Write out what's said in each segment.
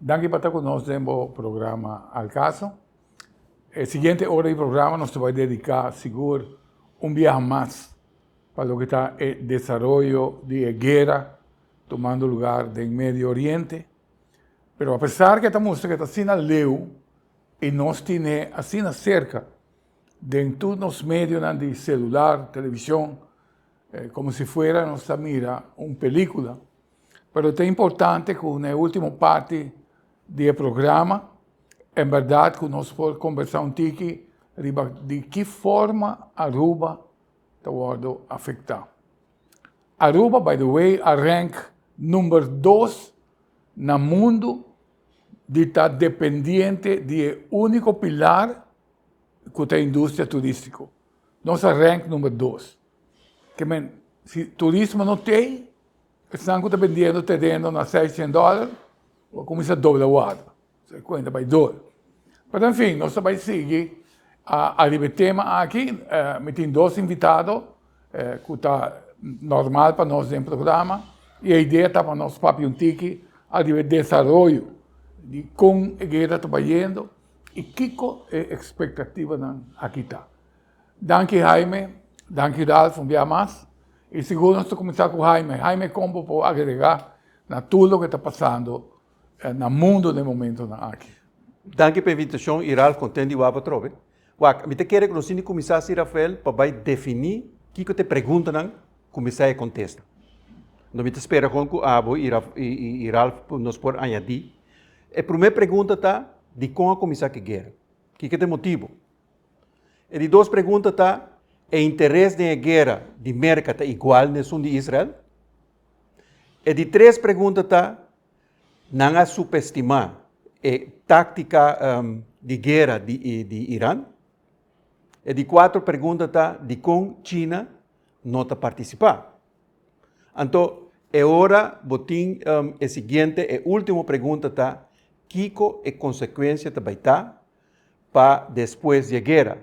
Danki pa ta ku nos den bo programa Al Caso. E siguiente ora di programa nos ta bai dediká sigur un biaha mas pa loke ta e desaroyo di e guera tumando lugar den Medio Oriente. Pero apesar ke ta mustra ke ta asina leu i nos tine asina serka den tur nos medionan di selular, televishon, komo si fuera nos ta mira un pelíkula. pero ta importante cu na e ultimo parti di e programa en berdad cu nos por combersa un tiki riba di ki forma Aruba ta wordo afecta. Aruba by the way a rank number dos na mundo di ta dependiente di e unico pilar cu ta industria turistico, nos a rank number dos. Ke men, si turismo no t'ei, esnan ku ta bendiendo tereno na seis cien dòler lo kuminsá dobla warda. So e kuenta bai dor. Pero en fin, nos ta bai sigui ariba e tema aki. Mi tin dos invitado ku ta normal pa nos den programa i e idea ta pa nos papia un tiki ariba e desaroyo di kon e guera ta bai yendo i kiko e ekspektativanan aki ta. Danki Haime, danki Ralph un bia mas, y sigur nos ta cuminsa cu Haime. Haime con bo por agrega na tur loke ta pasando na mundo den momentonan aki? Danki pa invitacion y Ralph content di wak bo atrobe. Wak, mi ta kere cu nos tin di cuminsa si Rafael pa bay defini kico ta e preguntanan cu mester contesta. Enton mi ta spera con cu abo y Ralph nos por añadi. E primer pregunta ta, Dicon a cuminsa ki guera? Kico ta e motibo? E di dos pregunta ta, e interes den e guerra di Merca ta igual nesun di Israel? E di tres pregunta ta, nan a subestima e táctica um, di guerra di, di Iran? E di cuatro pregunta ta, di con China no ta participa? Anto, e ora botin um, e siguiente, e último pregunta ta, Kiko e consecuencia ta baita pa despues di e guera,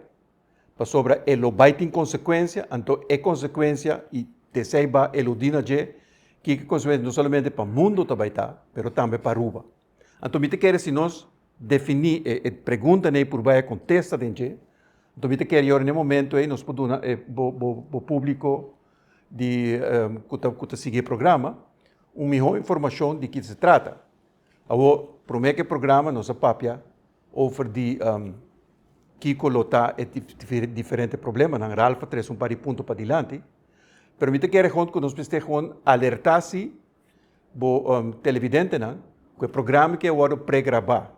pasobra e lo bai tin konsekuensia, anto e konsekuensia i t'esei ba eludí na dje, kiko e konsekuensia no solamente pa mundu ta bai ta, pero tambe pa Aruba. Anto mi ta kere si nos definí e preguntanan ei por bai a kontesta den dje, anto mi ta kere yora n'e momento ei nos por duna e bo bo bo públiko di ku ta ku ta sigui e programa un mihó informashon di kiko ta trata. Awor, promé ku e programa nos a papia over di kiko lo ta e diferente problemanan. Ralph a trese un par di punto padilanti. Pero mi ta kere hond ku nos mester hond alertá si bo televidentenan ku e programa ke a wòrdu pregrabá.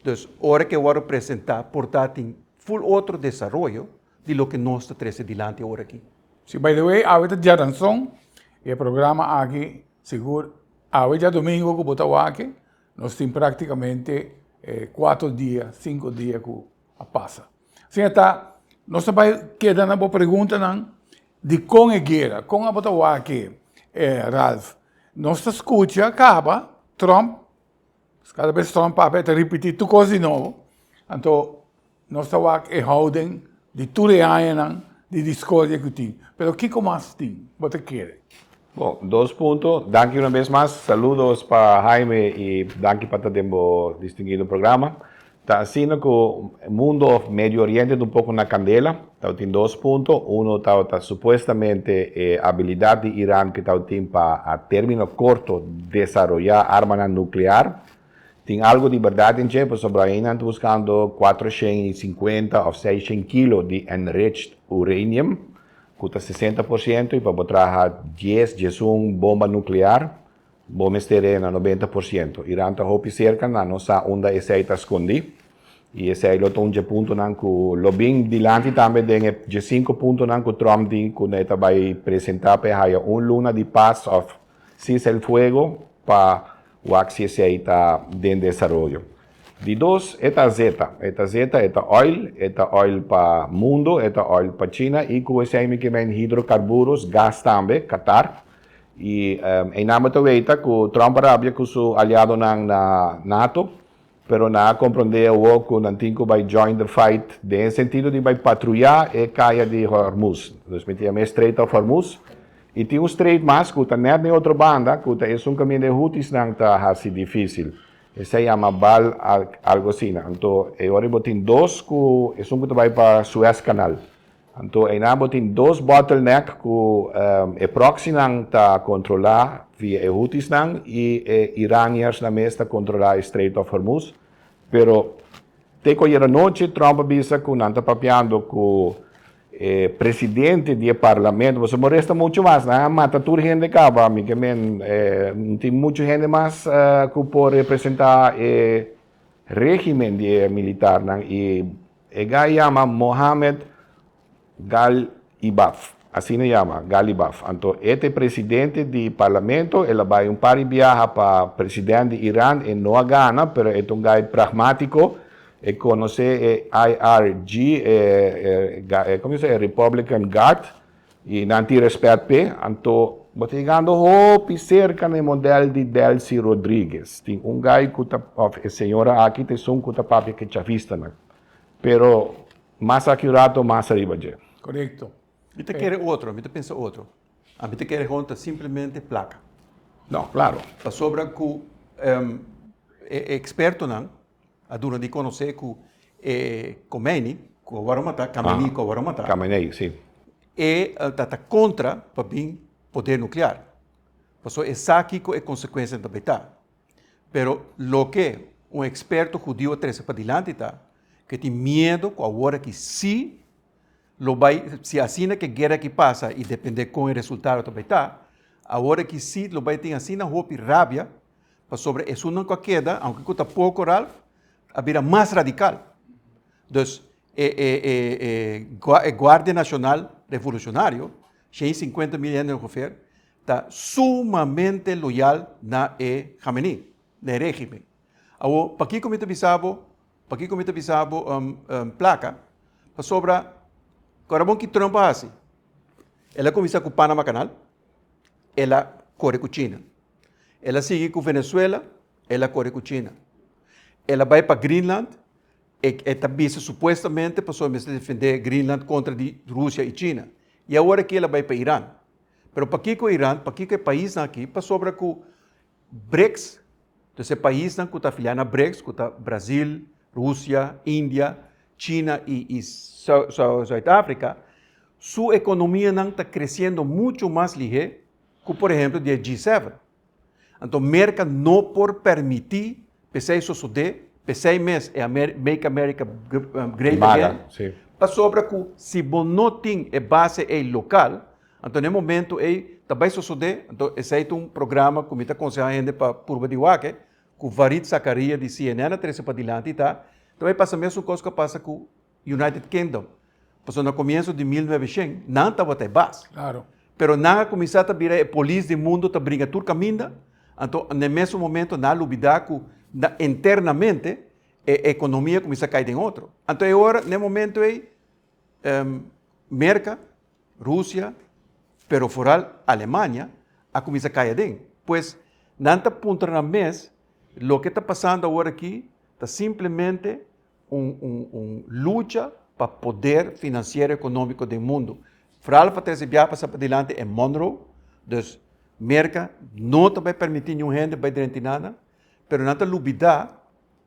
Dus ora ke wòrdu presentá por ta tin ful otro desaroyo di loke nos ta trese dilanti ora aki. Si by the way awe ta dia danzon y e programa aki sigur awe dia domingo ku bo ta wak nos tin praktikamente kuater dia sinku dia ku a pasa sin e ta nos ta bay keda na bo preguntanan dikon e guera kon a bo ta wak Ralph nos ta skucha kaba Trump Pues kada bes tròmp papia ta ripití tur kos di nobo, anto nos ta wak e houden di tur e añanan di diskordia ku tin. Pero kiko mas tin bo ta kere? Bo, dos punto. Danki una bes mas. Saludos pa Haime i danki pa ta den bo distinguido programa. Ta asina ku mundo òf Medio Oriente ta un poko na kandela. Tabatin dos punto. Uno tabata supuestamente e abilidat di Iran ku tabatin pa a término korto desaroyá armanan nuklear. Tin algu di bèrdat den dje, pasobra ayinan ta buskando kuater shen i sinkuenta òf seis shen kilo di enriched uranium, ku ta sesenta por siento, i pa bo traha dies djesun bomba nuklear. Bo mester rena nobenta por ciento. Iran ta hopi cerca, nan no sa unda esey ta scondi. Y esey lo ta un dje puntonan cu lo bin dilanti tambe den e dje cinco puntonan cu Trump di cu e ta bay presenta pa e haya un luna di paz of cese el fuego pa wak si esey ta den desaroyo. Di dos e ta zeta, e ta zeta, e ta oil, e ta oil pa mundo, e ta oil pa China y cu esey mikimen hidrocarburos, gas tambe, Qatar, Y eina bo ta weta cu Trump a rabia cu su aliadonan na nato, pero nan a comprende awo cu nan tin cu bay join the fight den e sentido di bay patruya e caya di Hormuz. Nos miti ama e Strait of Hormuz. Y tin un strait mas cu ta net den otro banda cu ta esun caminda e Houthis-nan ta haci dificil. Esey ama Bal algo asina. Anto e ora bo tin dos cu esun cu ta bay pa Suez Canal. Anto eina bo tin dos bottleneck cu e proxynan ta controla via e Houthysnan y e Iraniansnan mes ta controla e Strait of Hormuz. Pero teco ayer anochi Trump a bisa cu nan ta papiando cu e presidente di e Parlamento. Boso por resta mucho mas. Nan a mata tur hende caba. Mi ke men no tin mucho hende mas cu por representa e regimen di e militarnan y E guy yama Mohamed Galibaf, asina e yama, Galibaf. Anto e ta e presidente di parlamento, el a bai un par di biaha pa president di Iran, e no a gana, pero e ta un guy pragmatico, e conoce e IRG, e Republican Guard, Y nan tin respet p'e, anto bo ta yegando hopi cerca na e model di Delcy Rodriguez. Tin un guy cu ta, of e señora aki ta esun cu ta papia cu e chavistanan. Pero mas aki un rato, mas ariba dje. Correcto. Mi ta kere otro, mi ta pensa otro. Ami ta kere honta simplemente placa. No, claro. Pasobra cu e expertonan. A duna di conoce cu e Khomeini, cu awor a mata, Khamenei, cu awor a mata. Khamenei, si. E ta ta contra pa bin poder nuclear. Paso esaki cu e consecuencianan ta bay ta. Pero loke un experto judio a trece padilanti ta cu e tin miedo cu awor aki si. Lo bai, si asina ke guera aki pasa i depende kon e resultado ta bai ta, awor aki si lo bai tin asina hopi rabia pasobra esunnan ku a keda, aunke ku ta poko, Ralph, a bira mas radikal. Dus e Guardia Nashonal Revolushonario, shen i sinkuenta mil hende ongefer, ta sumamente loyal na e Khamenei, na e régimen. Awor, pakiko mi ta bisa bo? Pakico mi ta bisa bo placa? Pasobra cu Ramon ki Trump a haci? El a cuminsa cu Panama Canal, el a core cu China. El a sigui cu Venezuela, el a core cu China. El a bay pa Greenland, e ta bisa supuestamente pasobra mester defende Greenland contra di Rusia y China. Y awor aki el a bay pa Iran. Pero pakico Iran? Pakico e paisnan aki? Pasobra cu Brics, dus e paisnan ku ta afiliá na Brics, ku ta Brasil, Rusia, India, China i Suid-Afrika, su ekonomianan ta kresiendo muchu mas lihé ku por ehemplo di e G-seven. Anto Merka no por permití p'esei sosodé, p'esei mes e Make America Great Again, pasobra ku si bo no tin e base ei lokal, Anto n'e momentu ei ta bai sosodé, anto esei ta un programa ku mi ta konsehá hende pa purba di wak, ku Varit Zakaria di cnn a trese pa dilanti ta, ta bai pasa mesun kos ku a pasa ku United Kingdom, pasobra na komienso di mil nuebe shen nan tabata e bas, pero nan a kuminsá ta bira e polis di mundu ta bringa tur kaminda, anto n'e mesun momentu nan a lubidá ku internamente e ekonomia a kuminsá kai den otro. Anto e ora, n'e momentu ei. Merka, Rusia, pero foral Alemania a kuminsá kai aden. Pues, nan ta puntra nan mes, loke ta pasando awor aki ta simplemente un lucha pa poder financiero economico den mundo. Foral pa trese biaha pa sa padilanti en Monroe, dus Merka no ta bai permiti niun hende bai drenti nan nan, pero nan ta lubidá.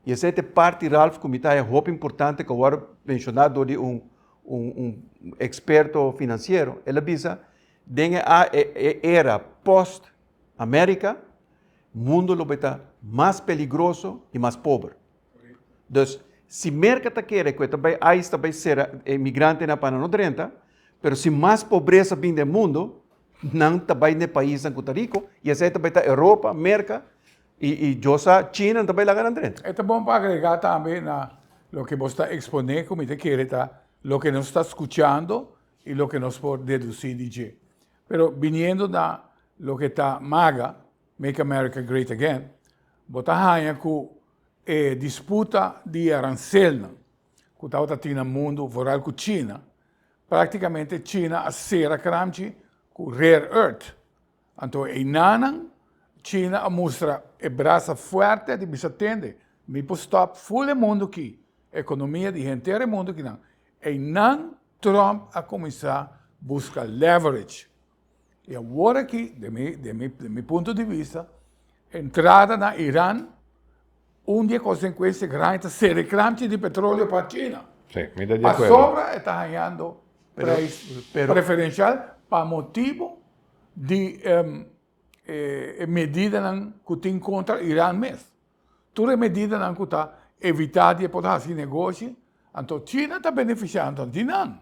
Y esei ta e parti, Ralph, cu mi ta haja hopi importante cu a worde menciona door di un experto financiero. El a bisa, den e era post America, mundo lo bay ta mas peligroso y mas pober. Dus, si Merca ta kere cu e ta bay, ice ta bay cera e inmigrantenan a pana nos drenta, pero si mas pobreza bin den mundo, nan ta bay na e paisnan cu ta rico y esei ta bay ta Europa, Merca. Y y Dios sa chin nan ta bay laga nan dren. E ta bon pa agrega tambe na loke bo sta expone cu mi ta kere ta loke nos ta scuchando y loke nos por deduci di dje. Pero biniendo na loke ta maga, Make America Great Again, bo ta haña cu e disputa di e arancelnan cu tabata tin na mundo, vooral cu China, practicamente China a cera cramchi cu rare earth, Anto einanan China a mustra e brasa fuerte di bisa tende mi por stop full e mundo ki economia di henter e mundo kinan einan Trump a cuminsa busca leverage y awor aki den mi den mi den mi punto di vista entrada na Iran un di e consecuencia grandi ta serekramchi di petroleo pa China pasobra eta hañando prijs preferencial pa motibo di e medidanan ku tin kontra Iran mes. Tur e medidanan ku ta evitá di e por hasi negoshi, anto China ta benefisiá anto di nan.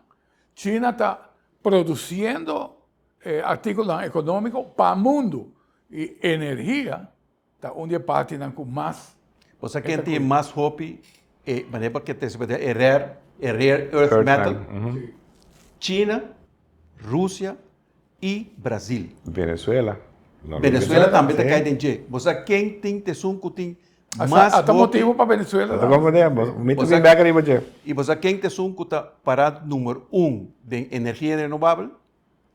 China ta produsiendo e artíkulonan ekonómiko pa mundu i energia. Ta un di e partinan ku mas. Bo sa ken tin mas hopi e manera pa ke ta esplike e rare e rare earth metal? China, Rusia i Brazil. Venezuela. Venezuela tambe ta kai den dje. Bo sa ken tin ta esun ku tin mas hopi? Asa ta motibu pa Venezuela ta konfundé. Mi ta bin bèk ariba dje. I bo sa ken ta esun ku ta pará numero un den energia renovabel?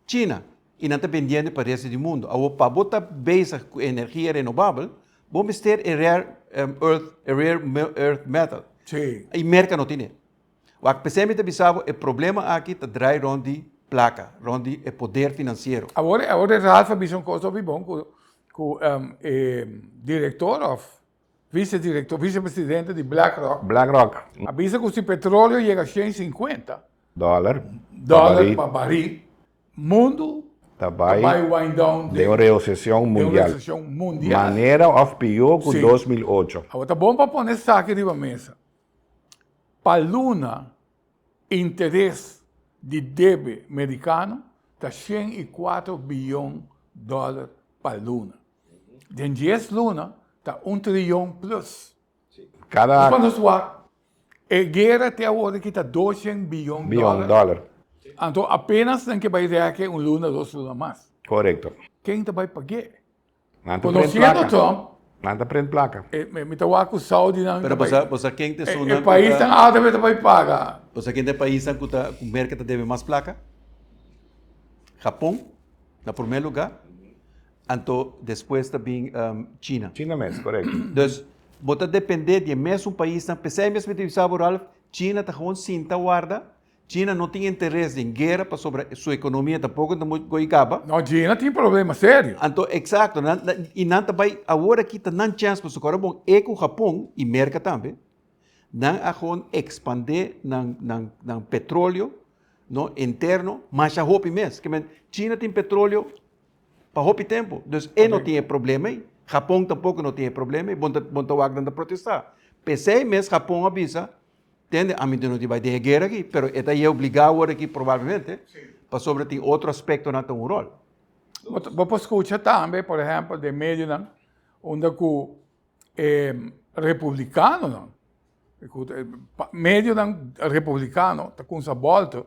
China y nan ta bendiendo pa resto di mundo. Awor pa bo ta bezig cu energia renovabel bo mester e rare earth metal y Merca no tin e. Wak p'esey mi ta bisa bo e problema aki ta draai rond di placa, rond di e poder financiero. Awor e Ralph a bisa un cos hopi bon cu e director of. Vicedirector, vicepresidente di BlackRock. BlackRock. A bisa cu si petroleo yega cien y cincuenta. Dollar. Dollar pa baril, mundo. Ta bay. Ta bay wind down. Den un reocesion mundial. Den un reocesion mundial. Manera of pio cu dos mil ocho. Si. Awor ta bon pa pone esaki riba mesa. Pa luna interes di debe mericano ta cien y cuatro billon dollar pa luna. Den dies luna ta un trilyon plus. Kada. Nos pa nos wak e guera te awor aki ta doshen biyon dòler. Anto apenas nan ke bai rèk'e un luna dos luna mas. Korekto. Ken ta bai pag'e? Nan ta prent plaka. Konosiendo Trump. Nan ta prent plaka. Mi ta wak ku Saudinan ta bai. Pero bosa ken ta esun nan ku ta. E paisnan alta mester bai paga. Bosa ken ta e paisnan ku ta ku Merke ta debe mas plaka? Japon na promé lugá. Anto despues ta bin China. China mes, correcto. Dus bo ta depende di e mesun paisnan. P'esei mes mi ta bisa bo, Ralph, China ta gewoon sinta warda. China no tin interes den guera pasobra su economia tampoco ta muy goy caba. No, China tin problema serio. Anto, exacto, nan, y nan ta bay, awor aki ta nan chance pa su cora bon, e cu Japon y Merca tambe, nan a gewoon expande nan, nan, nan petroleo, no, interno, masha hopi mes. Ke men, China tin petroleo. pa hopi tempu. Dus e no tin e problema ei. Japon tampoko no tin e problema ei. Bon ta, bon ta wak dan ta protestá. P'esei mes Japon a bisa, tende, ami no tin bai den e guera aki, pero e ta e obligá a wòrdu aki probablemente, pasobra tin otro aspektonan ta un ròl. Bo por skucha tambe, por ehèmpel, den medionan unda ku e republikanonan, medionan republikano ta kumsa bòltu.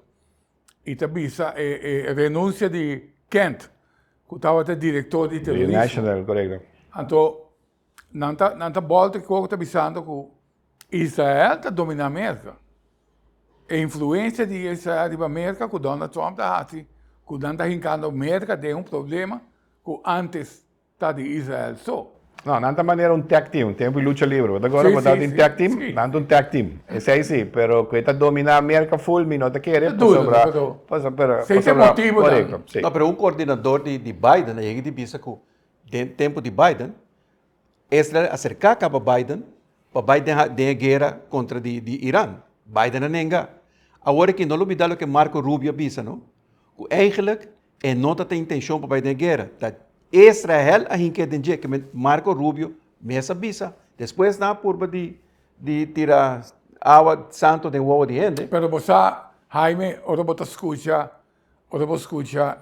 y ta bisa e renuncia di Kent cu tabata director di terrorismo. Anto nan ta bolta cu ta bisando cu Israel ta domina America. E influencia di Israel riba America cu Donald Trump ta haci cu nan ta hincando America den un problema cu antes ta di Israel so. No, nan ta manera un tag team, tempo di lucha libre, bo ta acorda cu bo tabata den tag team? Nan ta un tag team, esey si, pero cu e ta domina America full mi no ta kere pasobra, pasobra, pasobra, corecto, si. No, pero un coordinador di di Biden a yega di bisa cu den tempo di Biden Israel a cerca caba Biden pa bay den den e guera contra di di Iran, Biden a nenga. Awor aki no lo bida loke Marco Rubio a bisa no, cu eigenlijk, E no ta tin intencion pa bay den guera. Ta Israel a hinke den dje, kimen Marco Rubio mes a bisa. Despues nan a purba di di tira awa santo den wowo di hende. Pero bo sa Jaime, ora bo ta scucha, ora bo scucha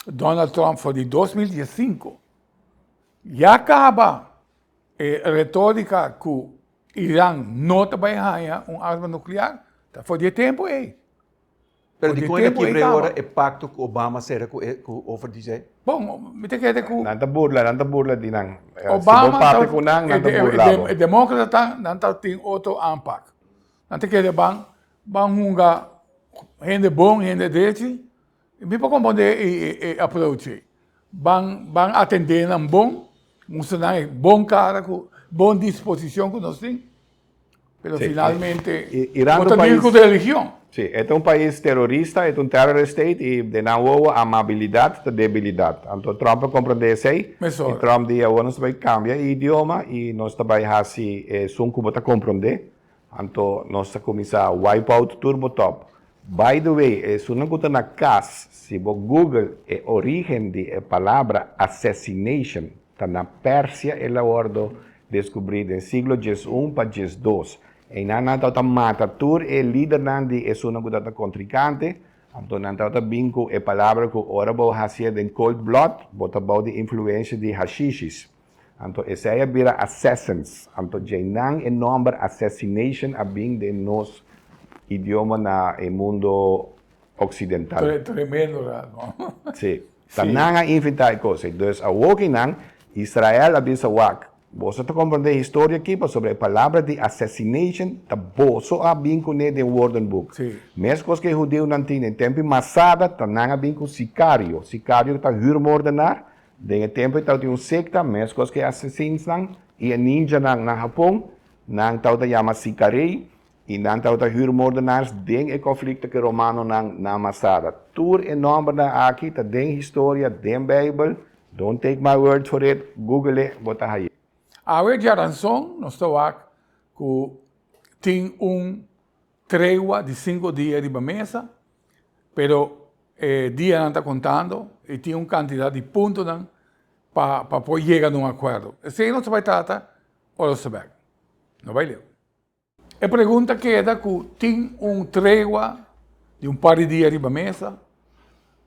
Donald Trump for di dos mil dies sinku, ya caba e retorica cu Iran no ta bay haña un arma nuclear, ta for di e tempo ey. Pero di kunda kibr'é ora e pakto ku Obama sera ku e ku Offer di dje? Bon, mi ta kere ku. Nan ta burla, nan ta burla di nan. Si bo papia ku nan, nan ta burla bo. E demókratanan nan ta tin otro aanpak. Nan ta kere ban ban hunga hende bon, hende drechi. Mi por kompondé e approach ei. Ban ban atendé nan bon, mustra nan e bon kara ku bon disposishon ku nos tin. Pero sí. finalmente, Irán ta país, con religión. Sí, este es un país terrorista, este es un terror state y de nan wowo amabilidad ta debilidad. Anto Trump a comprende esey y Trump di awor nos ta bay cambia e idioma y nos ta bay haci esun cu bo ta comprende. Anto nos ta cuminsa wipe out tur bo top. By the way, esunnan cu ta na cas, si bo google e origen di e palabra assassination, Ta na Persia el a wordo descubri den siglo djes un pa djes dos. Einan nan tau ta mata tur e lidernan di esunnan cu tata contricante, anto nan tau ta bin cu e palabra cu ora bo haci'e den cold blood, bo ta bou di influencia di hashishis. Anto esey a bira assassins. Anto djeinan e nomber assassination a bin den nos idioma na e mundo. Occidental. Tremendo ra no. Sí. Ta nan a inventá e cos ei. Dus awoki nan, Israel a bisa wak, boso ta comprendé historia aki pasobra e palabra di assassination ta boso a bin cuné den woordenboek. Sí. Mes cos cu e hudeunan tin den tempo di Masada ta nan a bin cu sicario. Sicario ta huurmoordenaar. Den e tempo ei tawata un secta, mes cos cu e assassinsnan y e ninjanan na Japon. Nan tawata yama sicarei. I nan tabata hürmoordenaars den e konflikto ke romanonan nan masada. Tur e nòmbernan aki ta den historia, den Beibel, don't take my word for it, gugele, bo ta haye. Awe djaranson nos ta wak ku tin un tregua di sinku dia riba mesa, pero e dianan ta kontando i tin un kantidat di puntonan pa pa por yega na un akuerdo. Esei nos ta bai trata ora nos ta bek. No bai leu. E pregunta keda ku tin un tregua di un par di dia riba mesa,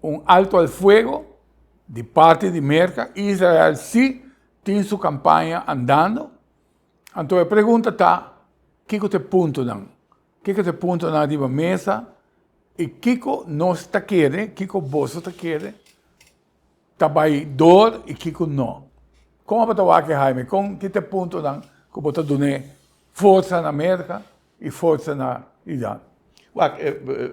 un alto al fuego di parti di Merka, Israel si tin su kampaña andando, anto e pregunta ta kiko ta e puntonan, kiko ta e puntonan riba mesa i kiko nos ta kere, kiko boso ta kere. Ta bai door y kico no? Con abo ta wak e Jaime? Con ki t'e puntonan cu bo ta dun'e forza na America y forza na Iran? Wak,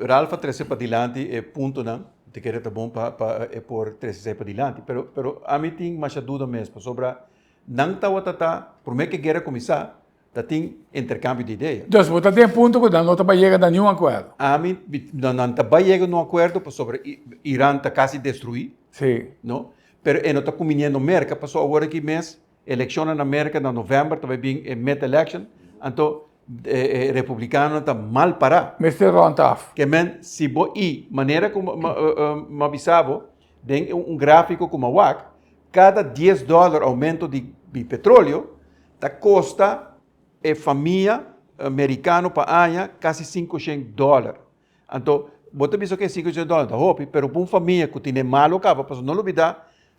Ralph a trece padilanti e puntonan, ta kere ta bon pa e por trece esai padilanti. Pero, pero ami tin masha duda mes, pasobra nan tawata ta, prome ke guera cuminsa, Ta tin interkambio di idea. Dus bo ta den punto ku nan no ta bai yega na niun akuerdo? Ami, mi, no, nan ta bai yega na un akuerdo pasobra I, Iran ta kasi destruí, Si. no? Pero e no ta kuminé no Merka paso awor aki mes elekshonnan na Merka na novèmber ta bai bin e mid election, anto e e republikanonan ta mal pará. Mester rònt af. Ke men, si bo i manera ku, ma, ma, ma bisa bo. Den e un gráfiko ku m'a wak, kada dies dòler oumento di petróleo ta kosta e famia merikano pa aña kasi sinku shen dòler. Anto bo ta bisa, oke, sinku shen dòler ta hopi, pero pa un famia ku tine malo kaba, pasobra no lo bida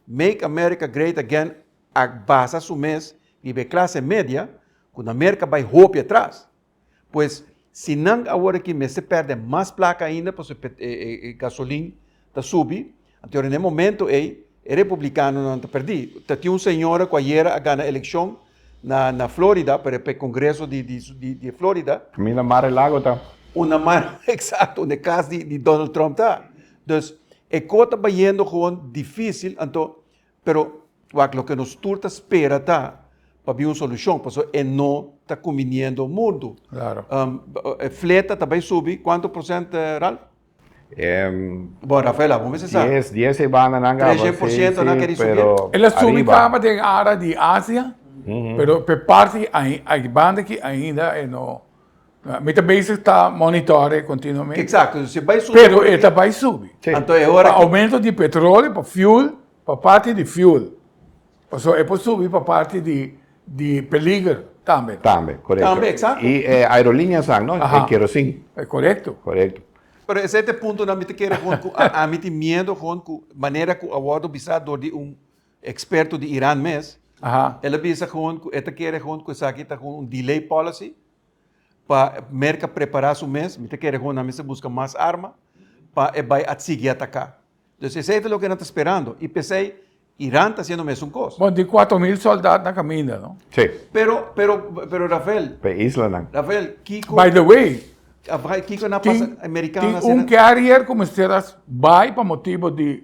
Make America Great Again a basa su mes riba e klase media ku na Merka bai hopi atras. Pues si nan awor aki mester perde mas plaka ainda pasobra e, e, e, e gasolin ta subi, anto ora na e momento ei e republicanonan ta perdi. Ta tin un señora cu ayera a gana eleccion na, na Florida, pa, pa e congreso di, di, di, di Florida. Camina Mar e Lago ta. Una mar, exacto, unda e cas di, di Donald Trump ta. Dus e co ta bayendo gewoon dificil, anto Pero wak loke nos tur ta spera ta pabia un solushon, pasobra e no ta kumbiniendo mundu. Klaro. E fleta ta bai subi kuantu prosent, Ralph? Bo Rafael, abo mester sa. Dies, dies e bandanan kaba, si, si. Treshen por siento nan keri subi. Pero ariba. El a subi kaba den ara di Asia, pero pe parti ai banda ki ainda e no. Mi ta bezig ta monitore continuamente. Exacto, si bai subi. Pero e ta bai subi. Sí. Anto e ora. Pa aumento di petrolio, pa fuel, pa parti di fuel. Pasobra e por subi pa parti di di peliger tambe. Tambe, correcto. Tambe, exacto. Y e aerolinea's ak no? Aha. E kerosin. E correcto. Correcto. Pero esei ta e puntonan mi ta kere gewoon ku ami tin miedo gewoon ku manera ku a wordo bisa door di un experto di Iran mes. Aha. El a bisa gewoon ku e ta kere gewoon ku esaki ta gewoon un delay policy. pa Merka prepará su mes, mi ta kere hopi nan mester buska mas arma pa e bai a sigui ataká. Entonces esei ta loke nan ta sperando i p'esei Iran ta hasiendo mesun kos. Bon, di kuater mil sòldat na kaminda, no? Sí. Pero, pero, pero Rafael. P'e islanan. Rafael, kiko. By the way. Kiko na pasa, e merikano na sera. Tin un carrier ku mester a bai pa motibu di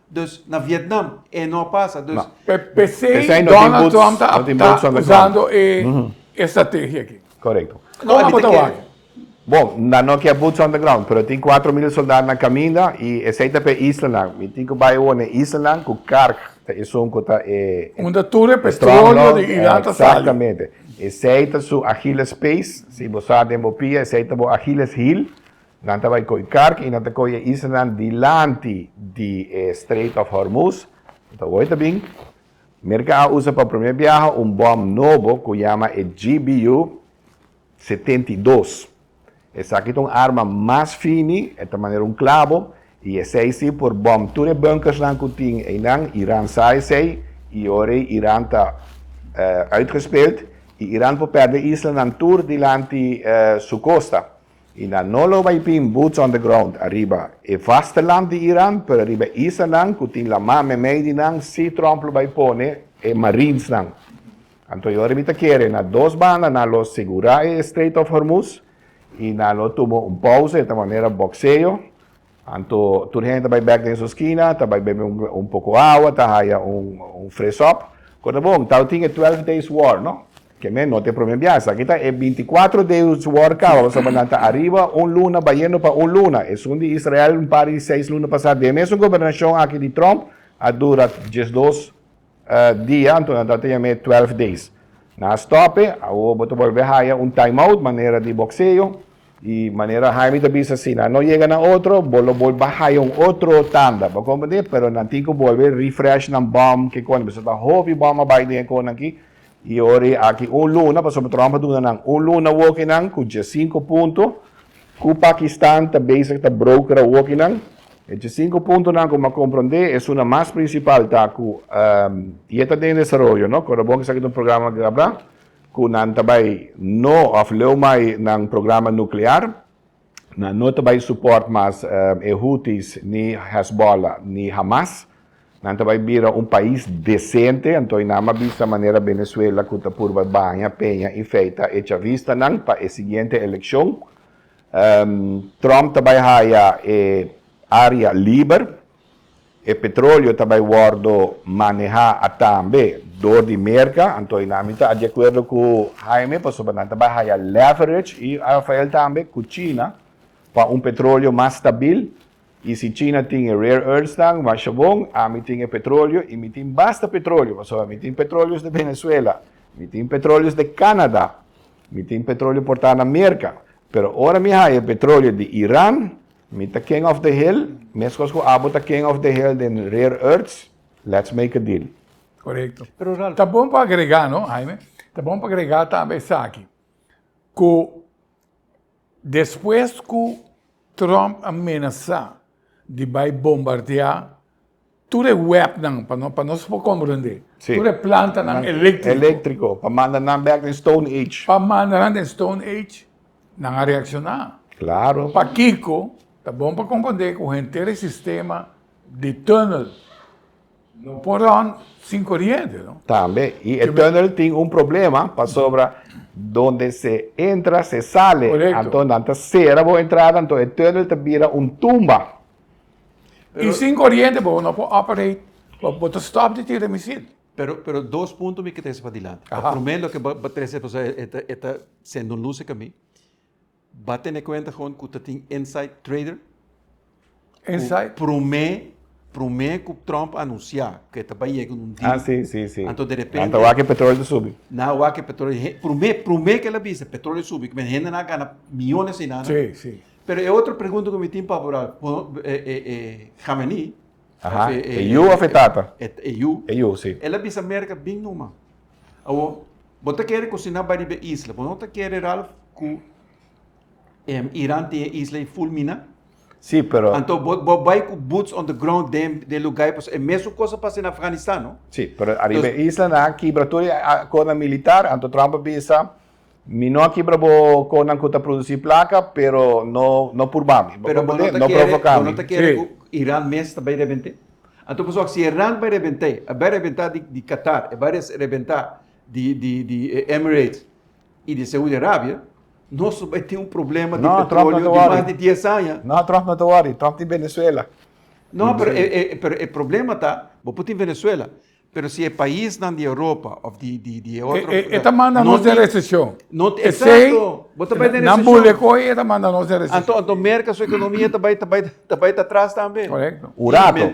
Dus na Vietnam e no a pasa. Dus, Pe, pesey Pesey no tin Donald boots- Trump ta no tin boots on the ground. usando e estrategia aki. Correcto. Kon abo ta wak? Bo, nan no kier boots on the ground, pero tin cuatro mil soldado na caminda y esey ta p'e islanan. Mi tin cu bai awor n'e islanan cu kark ta esun cu ta e Unda tur e petrolio di Iran ta sali. Exactamente. Esey ta su Achilles pace. Si bo sa den bo pia, esey ta bo Achilles heel. Nan ta bai ko'i karki i nan ta ko'i e islanan dilanti di e Strait of Hormuz. Nan ta wòrda bin. Merka a usa pa promé biaha un bòm nobo ku yama e GBU setenta i dos. Esaki ta un arma mas fini, e ta manera un klabo, i esei si por bòm tur e bunkersnan ku tin einan. Iran sa esei, i ora ei Iran ta uitgespeld i Iran por pèrdè islanan tur dilanti su kosta. I nan no lo bai tin boots on the ground ariba e vasteland di Iran, pero ariba e isanan ku tin lamá meimei di nan sí Trump lo bai pone e marinsnan. Anto yoda mi ta kere na dos banda nan lo sigurá e Strait of Hormuz i nan lo tuma un pouse ta manera bokseo Anto tur hende ta bai bek den su skina, ta bai bebe un poko awa, ta haya un fresop. Kon ta bon, tao tin e twèlf days war, no? Ke men no ta e prome bias. Aki ta e binti kuater days war kaba, pasobra nan ta ariba un luna, bayendo pa un luna. Esun di Israel un par di seis luna pasá, den e mesun gobernashon aki di Trump, a dura diesdos. dia anto nan tabata yam'é twelf days nan a stòp'e awo bo ta bolbe haya un time out manera di bokseo i manera Haimi ta bisa si nan no yega na otro bo lo bolbe a haya un otro tanda bo komprendé pero nan tin ku bolbe refresh nan bòm kiko nan bisa ta hopi bòm a bai den e konan ki Y ori aki un luna, pasobra Trump a duna nan un luna wokinan cu diesinco punto, cu Pakistan ta bezig ta brokera wokinan. E diesinco puntonan, como a comprende, esuna mas principal ta cu y e ta den desaroyo, no. Cuando bo esaki ta un programa guerra, cu nan ta bay no of leu mai nan programa nuclear. Nan no ta bai support mas e Houthis ni Hezbollah ni Hamas. Nan ta bai bira un pais decente, antoy nan m'a bisa manera Venezuela cu ta purba baña, peña y feita e chavistanan pa e siguiente eleccion. Trump ta bai haya e area liber E petroleo ta bai wordo maneha atambe door di Merca, anto y nan mi ta di acuerdo cu Jaime pasobra nan ta bai haya leverage y Rafael tambe cu China pa un petroleo mas stabil y si China tin e rare earths nan, washabon, ami tin e petroleo y mi tin basta petroleo pasobra mi tin petroleos de Venezuela, mi tin petroleos de Canada, mi tin petroleo porta na Merca, pero ora mi haya e petroleo di Iran Mi ta king of the hill, meskos ku abo ta king of the hill den rare earths, let's make a deal. Korekto. Pero ta bon pa agregá, no Haime, ta bon pa agregá tambe esaki, ku despues ku Trump a menasá di bai bombardeá Tur e webnan pa no pa nos por komprendé. Sí. Tur e plantanan eléktriko. Eléktriko, pa manda nan bèk den Stone Age. Pa manda nan den Stone Age, nan a reakshoná. Klaro. Pakiko ta bon pa komprendé ku henter e sistema di tunnel no por ròn sin koriente, no? Tambe. I e tunnel tin un problema pasobra donde se entra se sale. Korekto. Anto nan ta sera bo entrada, anto e tunnel ta bira un tumba. Y sin coriente bo no por operate, bo ta stop di tira misil. Pero, pero dos punto mi ke trese pa dilanti. Aha. Prome loke bo bo trese pasobra e e ta e ta sende un lus eka mi. Bo tene kuenta kon ku ta tin inside trader. Inside. Ku prome, prome ku Trump a anunsia ke ta bai yega un deal. Ah si, si, si. Anto derepente. Nan ta wak e petrolio ta subi. Nan wak e petrolio he prome, prome ke el a bisa petrolio subi, ku men hende nan a gana miyones ei nan a. Si, si. Pero e otro pregunta cu mi tin pa Apural, e Khamenei, Aha, e yu of e tata? E yu. E yu, si. El a bisa America bin numa. Awor, bo ta kere cocina bay riba e isla, bo no ta kere, Ralph, cu Iran tin e isla ey full mina? Si, pero. Anto bo bay cu boots on the ground den e lugai pasobra e mesun cos a pasa den Afghanistan, no? Si, pero ariba e islanan a kibra tur e acordonan militar, anto Trump a bisa, Mi no a kibra bo konan ku ta produsí plaka, pero no no purba mi. Bo ta pone, no provoká mi. Pero bo no ta kere ku Iran mes ta bai rebent'é? Anto pasobra si Iran bai rebent'é, e bai rebentá di Qatar, e bai rebentá di di di Emirates i di Saudi Arabia, nos lo bai tin un problema di petroleo di mas di dies aña. No, Trump no ta wòri. Trump tin Venezuela. No, pero e problema ta bo por tin Venezuela, Pero si e paisnan di Europa of di di e otro. E ta manda nos den reseshon. Esei nan bule ku oye e ta manda nos den reseshon. Anto Merka su ekonomia ta bai ta bai ta tras tambe. Korekto. Un rato,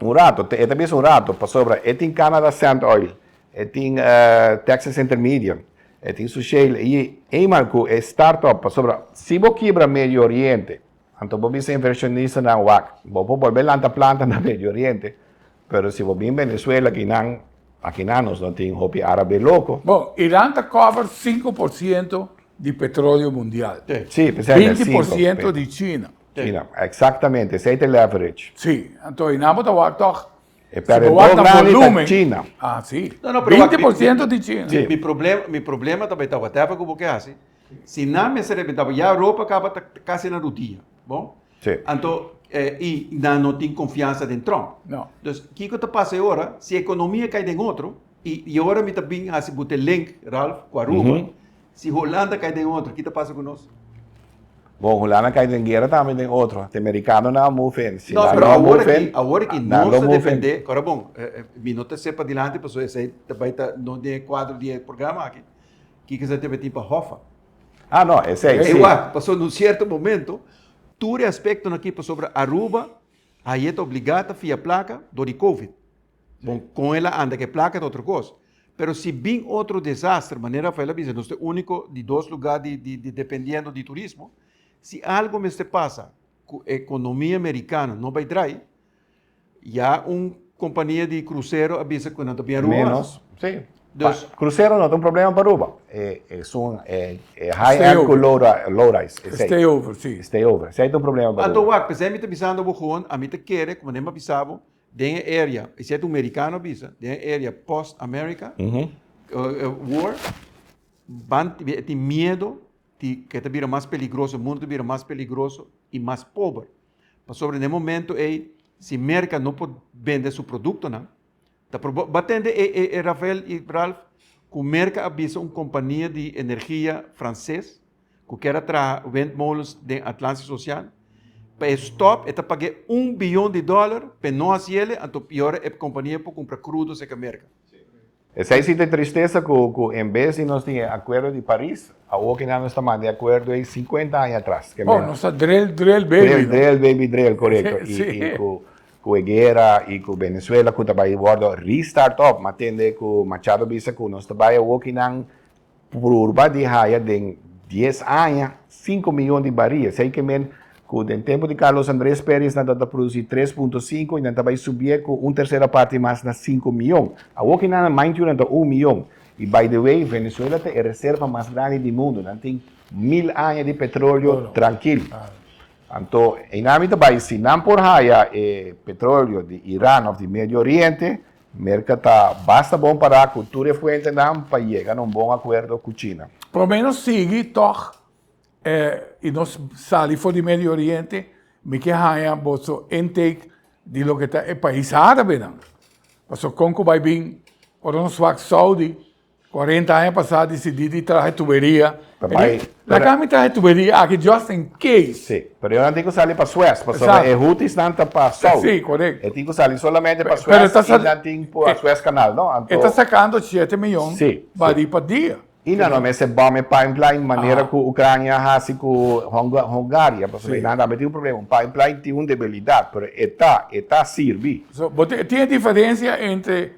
un rato, e ta bisa un rato pasobra e tin Canada Sand Oil, e tin Texas Intermedium, e tin su shale ayi, ey man ku e start up pasobra si bo kibra Medio Oriente, Anto bo bisa invershonistanan wak, bo por bolbe lanta planta na Medio Oriente, pero si bo bin Venezuela akinan, akinan nos no tin hopi arabe loko. Bon, Iran ta cover sinku por ciento di petroleo mundial. Sí, p'esei ta Binti por sinku. ciento di China. China, exactamente, esei ta el average. Sí, anto y nan bo ta wak tog, E si bo wak perdedor na grandi ta volumen, China. ah, sí, No, no, pero wak, binti mi, por mi, ciento di China. Sí. mi, mi problema, mi problema ta bay ta whatever cu bo ke haci, Si nan mester repita bo, ya ropa caba ta casi na rudia, bo? Sí. Anto, eh, y nan no tin confiansa den Trump. No. Dus, kico ta pasa e ora? Si economia cay den otro, y e ora mi ta bin haci bo te link, Ralph, cu Aruba, si Holanda cay den otro, ki ta pasa cu nos? Bo, Holanda cay den guera tambe den otro. Te Mericanonan a move in. Si No, nan pero no a awor move aki, in, awor aki, nan nos lo ta move in. defende, ora bon, eh, eh, mi no ta sepa dilanti, pasobra esey ta bay ta no den e cuadro di e programa aki, Kiko esaki ta meti pa Hoffa? Ah no, esei si. Ey wak, pasobra na un sierto momento tur e aspectonan aki, pasobra Aruba aye ta obligá ta fia placa dor di covid. Bon, con el a anda cu e placa ta otro cos. Pero si bin otro desastre, manera Rafael a bisa, nos ta e unico di dos lugar di di di dependiendo di turismo, si algo mester pasa cu e economia Mericano no bay draai, Ya un kompania di krusero a bisa ku nan ta biaruba. Menos, si. Dus. Pa krusero no ta un problema pa Aruba. E esun e e high end ku low low rise esei. Stay over, si. Stay over. Esei ta un problema pa Aruba. Anto wak, p'esei mi ta bisando bo hoon, ami ta kere ku manera mi a bisa bo den e area, esei ta un merikano a bisa, den e area post America war, ban tin miedo di ke ta bira mas peligroso, mundu ta bira mas peligroso i mas pober. pasobra n'e momentu ei si Merka no por bende su produktonan, ta por bo a tende e e e Rafael i Ralph ku Merka a bisa un kompania di energia franses ku kier a traha windmolens den Atlantische Oceaan, pa e stòp e ta pag'é un billon di dòler p'e no hasiele, anto piora e kompania por kumpra krudo serka Merka. Esei si ta e tristesa ku ku en bes di nos tin e Akuerdo di Paris, awor kina nos ta manda e akuerdo ei sinkuenta aña atras? Ke men. Oh, nos ta drill, drill, baby. Drill, drill, baby, drill, korekto. Si. I i ku ku e guera i ku Venezuela ku ta bai wòrdu restart op, m'a tende ku Machado bisa ku nos ta bai awor kinan Purba di haya den dies aña sinku miyon di baria. Esei ke men ku den tempu di Carlos Andres Perez nan tabata produsí tres punto sinku i nan ta bai subié ku un tersera parti mas na sinku miyon. Awor ki nan maintiu nan ta un miyon. I by the way, Venezuela ta e reserva mas grandi di mundu. Nan tin mil aña di petrolio trankil. Anto einamin ta bai si nan por haya e petrolio di Iran òf di Medio Oriente, Merca ta basta bon para cu tur e fuentenan pa yega na un bon acuerdo cu China. Prome nos sigui tog y nos sali for di Medio Oriente, mi ke haya boso intake di loke ta e pais arabenan. Pasobra con cu bay bin, ora nos wak Saudi, Cuarenta aña pasá decidí di traha e tuberia. Ta bai. Laga mi traha e tuberia aki just in case. Sí. Pero e horanan tin cu sali pa Sues, pasobra e hutisnan ta pa Sout. Sí, correcto. E tin cu sali solamente pa Sues y nan tin cu a Sues Canal, no? Anto. E ta sacando siete miyon barí pa dia. Y nan lo mester bom e pipeline manera cu Ucrania a haci cu Hungaria, pasobra nan tambe tin un problema. Un pipeline tin un debilidad, pero e ta, e ta sirbi. So, bo tin e diferencia entre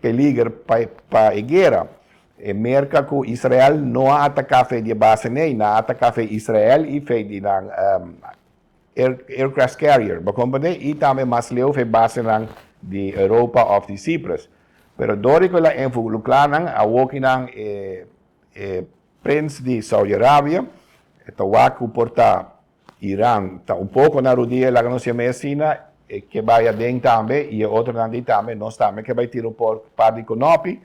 Peliger pa e guera. E Merka ku Israel no a ataká fe di e base nei, nan a ataká fe Israel i fe di nan aircraft carrier, bo komprendé, i tambe mas leu fe basenan di Europa òf di Cyprus. Pero dorico el a envolucrá nan, awoki nan e prins di Saudi Arabia, e ta wak ku por ta Iran ta un poko na rudia e laga nos yam'é asina, e ke bai aden tambe i e otronan di tambe, nos tambe ke bai tira un por par di konopi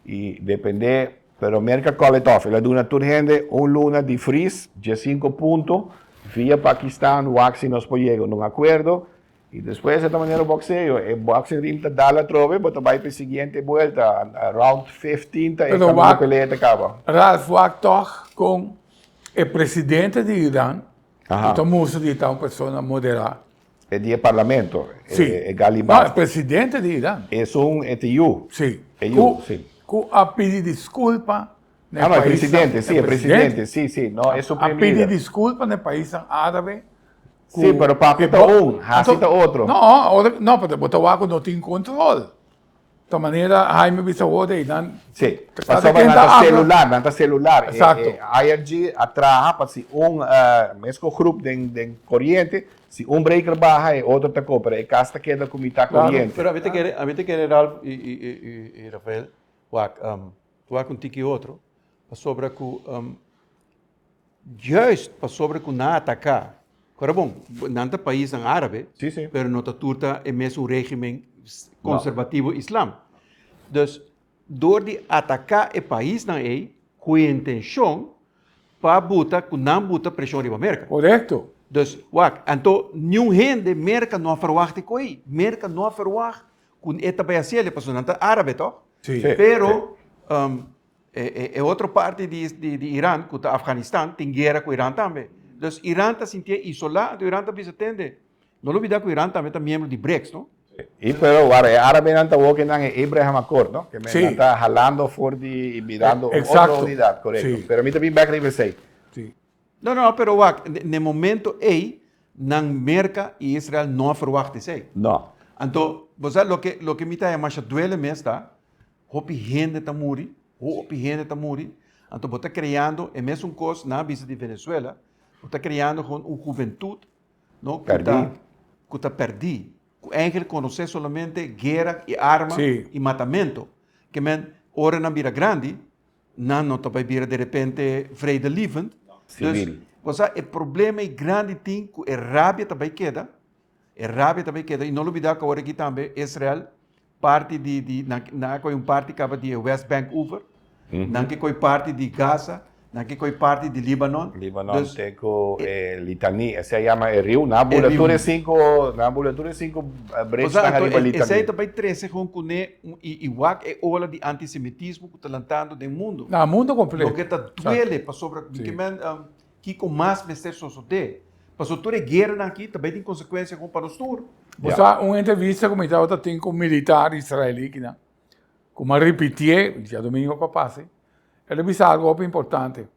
i dependé, pero Merka Koletoff el a duna tur hende un luna di fris, dies sinku punto, via Pakistan, wak si nos por yega un akuerdo Y despues e ta manera boxeo, e boxing ring ta dal atrobe, bo ta bai pa e siguiente buelta, round fifteen ta e camino pelea ta caba. Ralph wak tog con e presidente di Iran, cu ta mustra di e ta un persona modera. E di e parlamento, e Ghalibaf. No, e presidente di Iran. Esun e ta yu. Si. E yu, si. Cu a pidi disculpa. Ah, no, e presidente, sí, e presidente, sí, sí, no e supreme leader. A pidi disculpa n'e paisnan árabe. Sí, pero papia ta un, hasi ta otro. No, ahora, no, pero bo ta wak ku no tin control. Ta manera Haime bisa wou de einan. Sí, pasobra nan ta celular, nan ta celular. Exacto. E IRG a traha pa si un, mesko grup den, den coriente, si un breaker baha e otro ta ko, pero e cas ta keda ku mitat coriente. Pero ami ta kere, ami ta kere Ralph i, i, i, i Rafael wak. Tua cu un tiki otro, pasobra cu juist pasobra cu nan a ataca, ora bon, nan ta paisnan arabe, pero no ta tur ta e mesun regimen conservativo islam. Dus, door di ataca e paisnan ey cu e intencion pa buta cu nan buta presion riba Merca. Corecto. Dus, wak, anto, niun hende Merca no a verwacht e coey. Merca no a verwacht Cu e ta bay haciel e pasobra nan ta arabe, toh? Sí. Sí. Pero e otro parti di Iran, cu ta Afganistan, tin guera cu Iran tambe. Dus Iran ta sintié isolá, anto Iran ta bisa tende. No lo olbidá cu Iran tambe ta miembro di BRICS, no? Sí. Pero wak e arabenan ta woke nan e Abraham Accord, no? Ke men ta halando for di y birando un otro unidad, corecto. Pero mi ta bin bek riba esey. Sí. No, no, pero wak, n'e momento ei nan Merka i Israel no a ferwakta esei. No. Anto, bo sa loke loke mi ta haya masha duele mes ta hopi hende ta muri, hopi hende ta muri, anto bo ta kreando e mesun kos nan a bisa di Venezuela, bo ta kreando gewoon un huventut no ku ta Pèrdí. ku ta pèrdí, ku eingelik konosé solamente guera i arma Sí. i matamento. Ke men ora nan bira grandi Nan no ta bai bira derepente vredelievend. Dus, bo sa e problema ei grandi tin ku e rabia ta bai keda, e rabia ta bai keda. I no lo bida ku awor aki tambe Israel, parti di, di, nan ke, nan a koi un parti kaba di e West Bank over, nan ke koi parti di Gaza, nan ke koi parti di Libanon. Libanon te ku e Litani, esei a yama e riu, nan a bula tur e sinku, nan a bula tur e sinku brechnan ariba Litani. Bo sa, anto esei ta bai trese kon kuné un, i, i wak e ola di antisemitismo. ta lantando den mundo. Na mundo completo. Loke ta duele pasobra mi ke men um, kiko mas mester sosode. Paso tur e guerranan aki ta bay tin consecuencia gon pa nos tur. Bo sa un entrevista ku mi tabata tin ku militar israelí kinan, ku mi a ripitié diadomingo pa pasa, el a bisa algu hopi importante.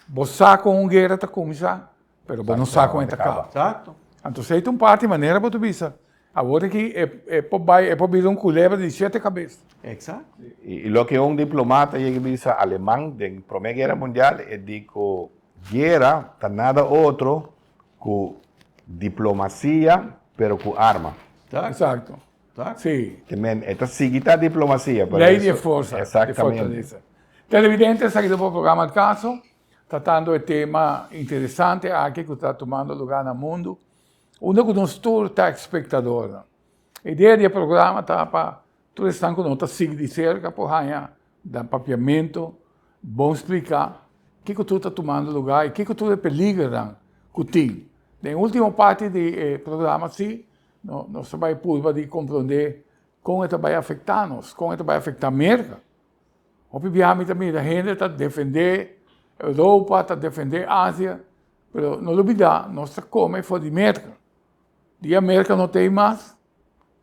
Bo sa kon un guera ta kuminsá, pero bo no sa kon e ta kaba. Exacto. Anto esei ta un parti manera bo ta bisa, awor aki e por bai, e por bira un kulebra di shete kabes. Exacto. I loke un diplomata yega bisa aleman den Prome Guera Mundial, e di ku guera ta nada otro ku diplomasia pero ku arma. Exacto. Ta si. Te men e ta sigui ta diplomacia por eso. Ley de forza. Exactamente. De fortaleza. Televidente esaki ta por programa El Caso, tratando e tema interesante aki cu ta tumando lugar na mundo, unda cu nos tur ta expectadornan. E idea di e programa ta pa tur esnan cu no ta sigui di cerca por haya nan papiamento, bon splica kico tur ta tumando lugar y kico tur e peligronan cu tin. Den e ultimo parti di e programa si. Nos ta bai purba di komprondé kon e ta bai afektá nos, kon e ta bai afektá Merka. Hopi biaha mi ta mira hende ta defendé Europa, ta defendé Asia, pero no lo bidá nos ta kome for di Merka. Dia Merka no ta ei mas,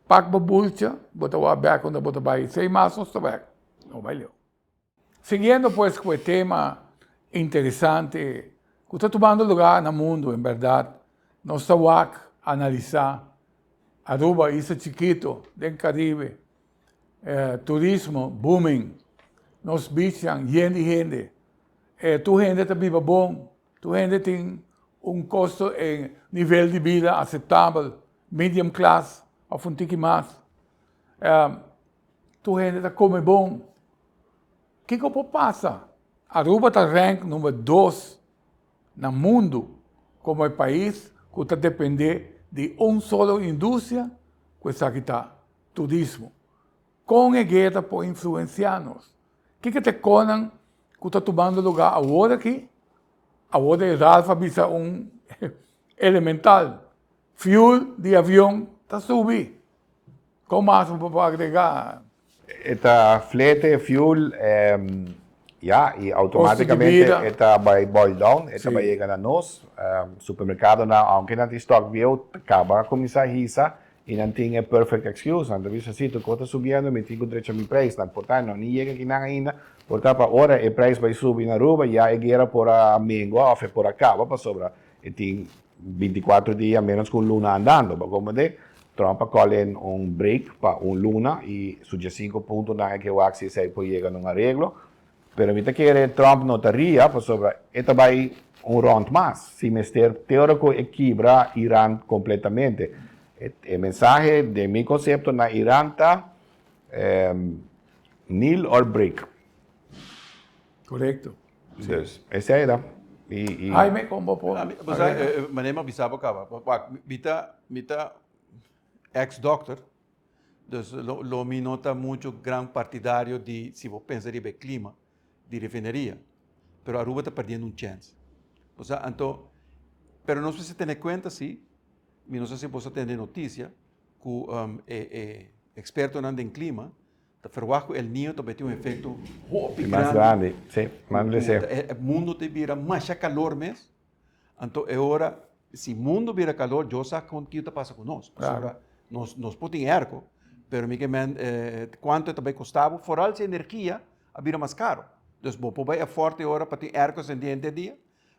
pak bo bulcha, bo ta wak bèk unda bo ta bai, si ei mas nos ta wèk, no bai leu. Siguiendo pues cu e tema interesante cu ta tumando luga na mundo en berdad, nos ta wak analisa Aruba, isla chikito den Caribe, turismo booming, nos beachnan yen di hende, tur hende ta biba bon, tur hende tin un costo en nivel di bida aceptabel, medium class of un tiki mas. Tur hende ta kome bon. Kiko por pasa? Aruba ta rank number dos na mundu komo e pais ku ta depende di un solo industria ku esaki ta turismo. Kon e guer ta por influensia nos? Kiko ta e konan ku ta tumando lugar awor aki? Awor e Ralph a bisa un elemental. Fuel di avion ta subi. Kon mas bo por agregá? E ta flete, fuel, ya, i automátikamente e ta bai boil down, e ta bai yega na nos. Supermerkadonan, aunke nan tin stòk bieu, ta kaba kuminsá hisa i nan tin e perfect excuse. Nan ta bisa, si tur kos ta subiendo, mi tin ku drecha mi preis. Nan por ta, no, ni yega ki nan ainda. Por ta pa ora e preis bai subi na Aruba, ya e guera por a mengua òf e por a kaba, pasobra E tin bintikuatro dia menos ku un luna andando. Pa komo te, Trump a kòl en un break pa un luna i su djasinku puntonan e ke wak si esei por yega na un areglo. Pero mi ta kere Trump no ta ria pasobra e ta bai un rònt mas, si mester, te ora ku e kibra Iran kompletamente. E mensahe den mi konsepto na Iran ta, Nil or break. Correcto. Dus esei ta. I, i. Ai me con bo por arregla. Ami, bo sa, e manera mi a bisa bo caba, wak, mi ta, mi ta ex dokter, dus lo, lo mi no ta mucho gran partidario di si bo pensa riba e clima di refineria, pero Aruba ta perdiendo un chance. Bo sa, anto, pero nos mester tene cuenta si, mi no sa si bo sa tene noticia, cu, e, e expertonan den clima. Ta ferwagt ku El Niño ta bai tin un efekto hopi grandi, ku e mundu ta bira masha kalor mes. Anto e ora, si mundu bira kalor, Dios sa kon kiko ta pasa ku nos. Pasobra nos por tin erko, pero mi ke men kuantu e ta bai kosta bo, foral si energia a bira mas karo. Entonces bo por bai afòrt e ora pa tin erko asentí henter e dia?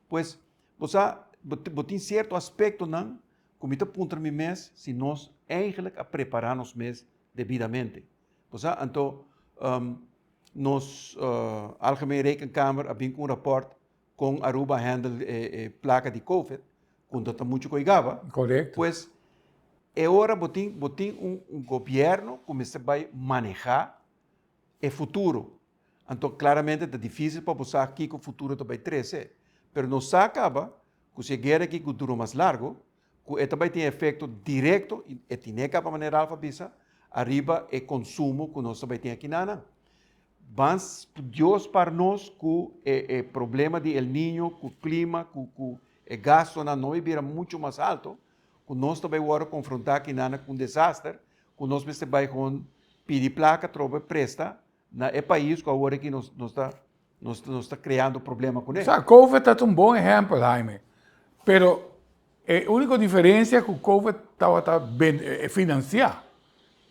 Pues, bo sa, bo tin sierto aspektonan ku mi ta puntra mi mes si nos eigentlik a prepará nos mes debidamente. Kosnan anto nos Algemeen Rekenkamer a bin ku un raport kon Aruba handel e plaka di covid ku no ta muchu koigaba. Korekto. Pues e ora bo tin bo tin un gobierno ku mester bai maneha e futuro anto klaramente ta difisil pa bo sa kiko futuro ta bai trese pero no sa kaba ku si e guera aki ku duro mas largo ku e ta bai tin efekto direkto, i e tine kaba manera Ralph a bisa, ariba e konsumo ku nos ta bai tin aki na nan. Mas studioso para nos ku e e problema di El Niño, ku klima, ku ku e gastonan no bai bira mucho mas alto, ku nos ta bai wòrdu konfrontá aki na nan ku un desaster, ku nos mester bai hon pidi plaka trobe presta, Na e pais cu awor aki nos ta creando problema cune. Sa covid ta ta un bon ehempel Haime, pero e unico diferencia cu covid tawata financia,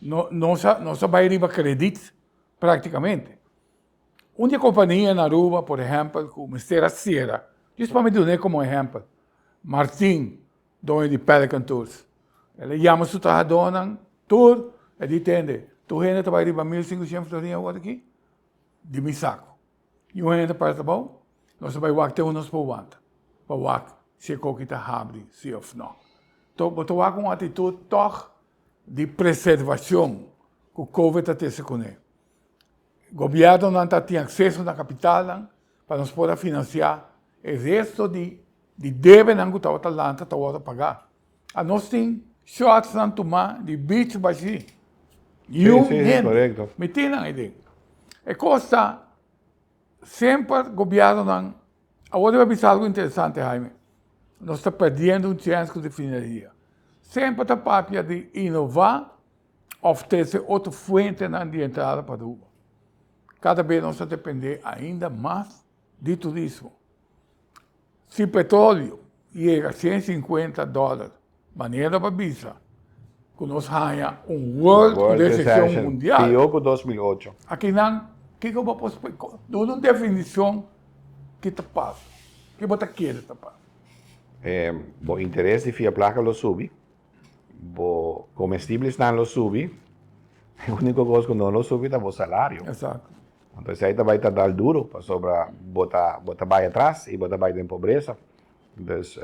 nos a bay riba credit practicamente. Un di e compania na Aruba por ehempel cu mester a cera, justo pa mi dun'e como ehempel, Martin. Doño di Pelican Tours el a yama su trahadónan tur, e di tende tur hende ta bai riba mil sinku sien florin awor aki di mi saku. Y un hende parse abou, nos ta bai wak te ora nos por wanta pa wak si e koki ta habri si òf nò. Tò, bo ta wak un atitut tòg di preservashon ku Kowe ta tese kuné. Gobièrnunan ta tin akseso na kapitalnan, Pa nos por a finansiá e resto di di debenan ku tabata lanta ta wòrdu pagá. A nos tin shòrtsnan tumá di beach bashí. Yùn hende mití nan aydén. E kos ta, semper gobièrnunan, awor yo a bisa algu interesante Haime, nos ta pèrdiendo un chèns ku refineria. Semper ta papia di inová òf trese otro fuentenan di entrada pa Aruba. Kada bes nos ta dependé ainda mas di turismo. Si petrolio yega sien sinkuenta dòler, manera pa bisa ku nos haña un world resesion mundial. Pió ku dos mil ocho. Akinan, kiko bo por splik'é? Duna un definishon ki ta pasa. Ke bo ta kere ta pasa? Bo interes di fia plaka lo subi. Bo comestiblisnan lo subi. E unico cos cu no lo subi ta bo salario. Exacto. Ento esey ta bay tardal duro pasobra bo ta bo ta bay atras y bo ta bay den pobreza. Dus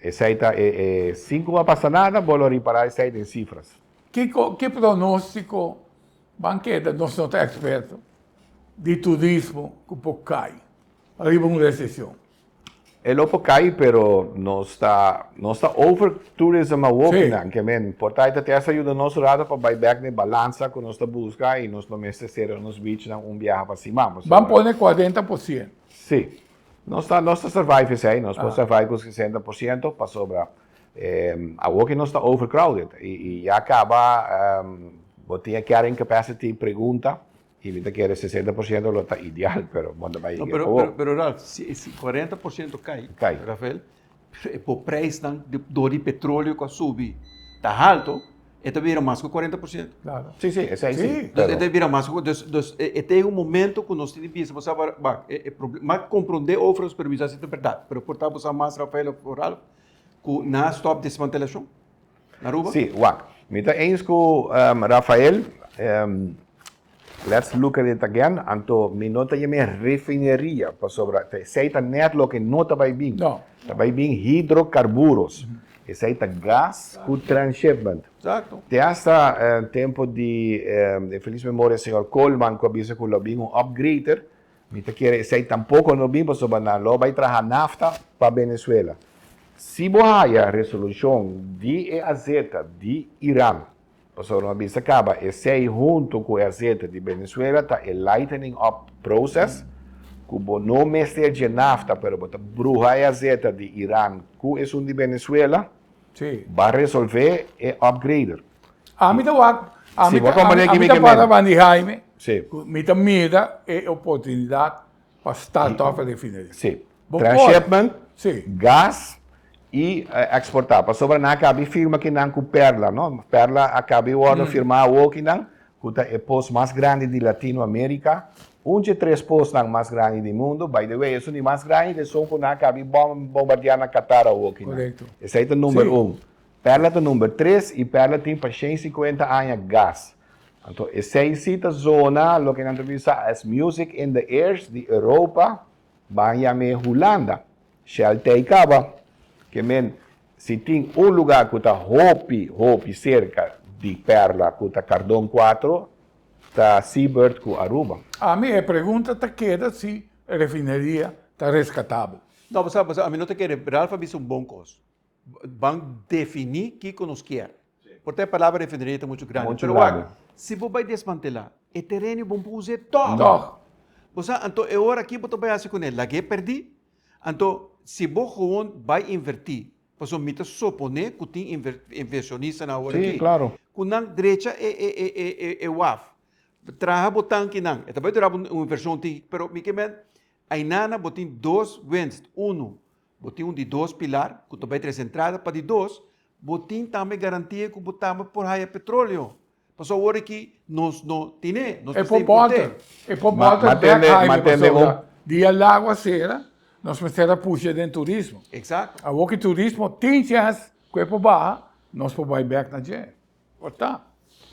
esey ta e e sin cu bo a pasa nada bo lo repara esey den cifras. Ki co ki pronostico ban keda, nos no ta experto, di turismo cu por cay riba un recesion? E lo por cay pero nos ta nos ta over tourism a woki sí. nan ke men por ta ita testa yuda nos rata pa bay back ne balansa ku nos ta buska i nos no mester sera nos beach nan un biaha pa siman pasobra ban pone kuarenta por siento sí nos ta nos ta survive esei nos por survive ku sesenta por siento pasobra a woki nos ta over crowded i ya kaba bo tin e carrying capacity pregunta. Y mi ta kere sesenta por ciento lo ta ideal, pero modo bay No, pero, pero, pero Ralph, si, si cuarenta por ciento cay, Cay. Rafael, pero e po prijsnan di- door di petroleo cu a subi ta halto, e ta bira mas cu cuarenta por ciento. Claro. Sí, sí, esey sí, Sí. Dus pero. e ta bira mas cu cu-, dus, dus e, e ta yega un momento cu nos tin di bisa, bo sa abar, bak, e, e proble, m'a comprende o ofrece permiso a si ta berdad, pero por ta bo sa mas Rafael of Ralph cu na stop desmantelacion? Aruba? Sí, wak. Mi ta eens ku Rafael. Let's look at it again. Anto mi no ta yama e refineria pasobra esei ta nèt loke no ta bai bin. Ta bai bin hidrokarburos. Esei ta gas ku transshipment. Te asta tempu di e felis memoria señor Coleman ku a bisa ku lo bin un upgrader Mi ta kere esei tampoco no bin pasobra nan lo bai traha NAFTA pa Venezuela. Si bo haya resolucion di e AZ di Iran, pasobra mi a bisa caba esei hunto cu e AZ di Venezuela ta e lightening up process cu bo no mester dje NAFTA pero bo ta bruha e AZ di Iran cu esun di Venezuela, Sí. Ba resolve e upgrader. Ami ta wak, ami ta, ami, ami ta para van di Jaime, sí. cu mi ta mira e oportunidad pa start off e refineria. Sí. Bo Transshipment, sí. gas y exporta. Pasobra nan a cabi firma kinan cu Perla, no? Perla a cabi worde firma awo kinan, cu ta e pos mas grandi di Latino America, un dje tres posnan mas grandi di mundo, by the way esun di mas grandi ta esun cu nan a cabi bombardea na Qatar awoki nan, esai ta number un, Perla ta number tres y Perla tin pa shen cincuenta aña gas, anto esai si ta zona loke nan ta bisa as music in the airs di Europa, ban yam'e Hulanda. Shell ta ei caba, que men si tin un lugar cu ta hopi hopi cerca di Perla cu ta Cardon cuatro ta Seabird cu Aruba. Ami e pregunta ta keda si e refineria ta rescatabel. No, bo sa, bo sa, ami no ta kere, Ralph a bisa un bon cos. Ban defini kico nos kier. Por ta e palabra refineria ta muchu grandi. Pero wak, si bo bai desmantela e tereno y bo bo usa e tog. Bo sa, anto e ora aki bo ta bai haci con el? Lag'e perdi? Anto, si bo gewoon bai inverti, pasobra mi ta sopone cu tin inversionista nan awor aki, cu nan drecha e waf, traha bo tankinan, e ta bai dura bo un inversion tin, pero mi ke men, aynanan bo tin dos winst, uno, Bo tin un di dos pilar ku ta bai tres entrada pa di dos, bo tin tambe garantia ku bo tambe por haya petroleo. Paso awor aki nos no tine, nos mester importe. E por bòter bèk haibe pasobra di e lago a sera, nos mester a pusha den turismo. Awor ku turismo tin chèns ku e por baha, nos por bai bèk na dje. Por ta.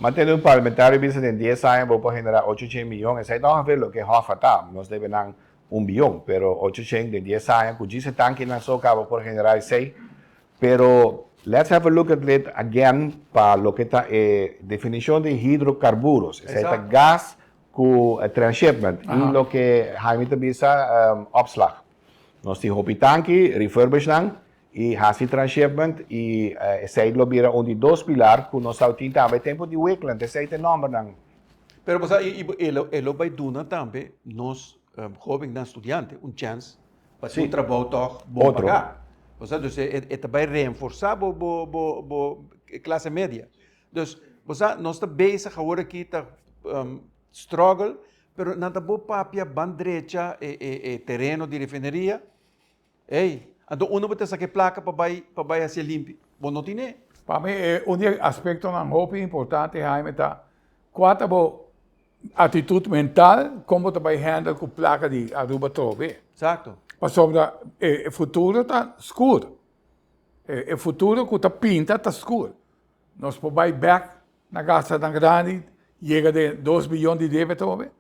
Ma tende un parlamentario bisa den dies aña bo por genera ocho cien miyon, esai ta ongevee loke Hof a ta, nos debe nan un biyon, pero ocho cien den dies aña cu djis e tankinan so caba por genera esai, pero let's have a look at it again pa loke ta e definicion di hidrocarburos, esai ta gas cu transhipment y loke Jaime ta bisa opslag, nos tin hopi tanki, refurbishnan. I hasi transhipment i esei lo bira un di dos pilar ku nos tawil tin tambe tempu di Wikland, esei ta e nòmbernan. Pero bo sa e lo bai duna tambe nos hobennan studiante un chèns pa tin un trabou tòg bon pagá. Bo sa? Dus e ta bai reenforsá bo bo klase media. Dus bo sa nos ta bezig awor aki ta struggle pero nan ta bo papia bandrecha e tereno di refineria. Ey, anto unda bo ta saca e placa pa bay pa bay haci e limpi? Bo no tin e. Pa mi e un di e aspectonan hopi importante Jaime ta cua ta bo actitud mental con bo ta bay handle cu placa di Aruba trobe. Exacto. Pasobra e futuro ta scuur. E e futuro cu ta pinta ta scuur. Nos por bay back na gastanan grandi yega den dos billon di debe trobe.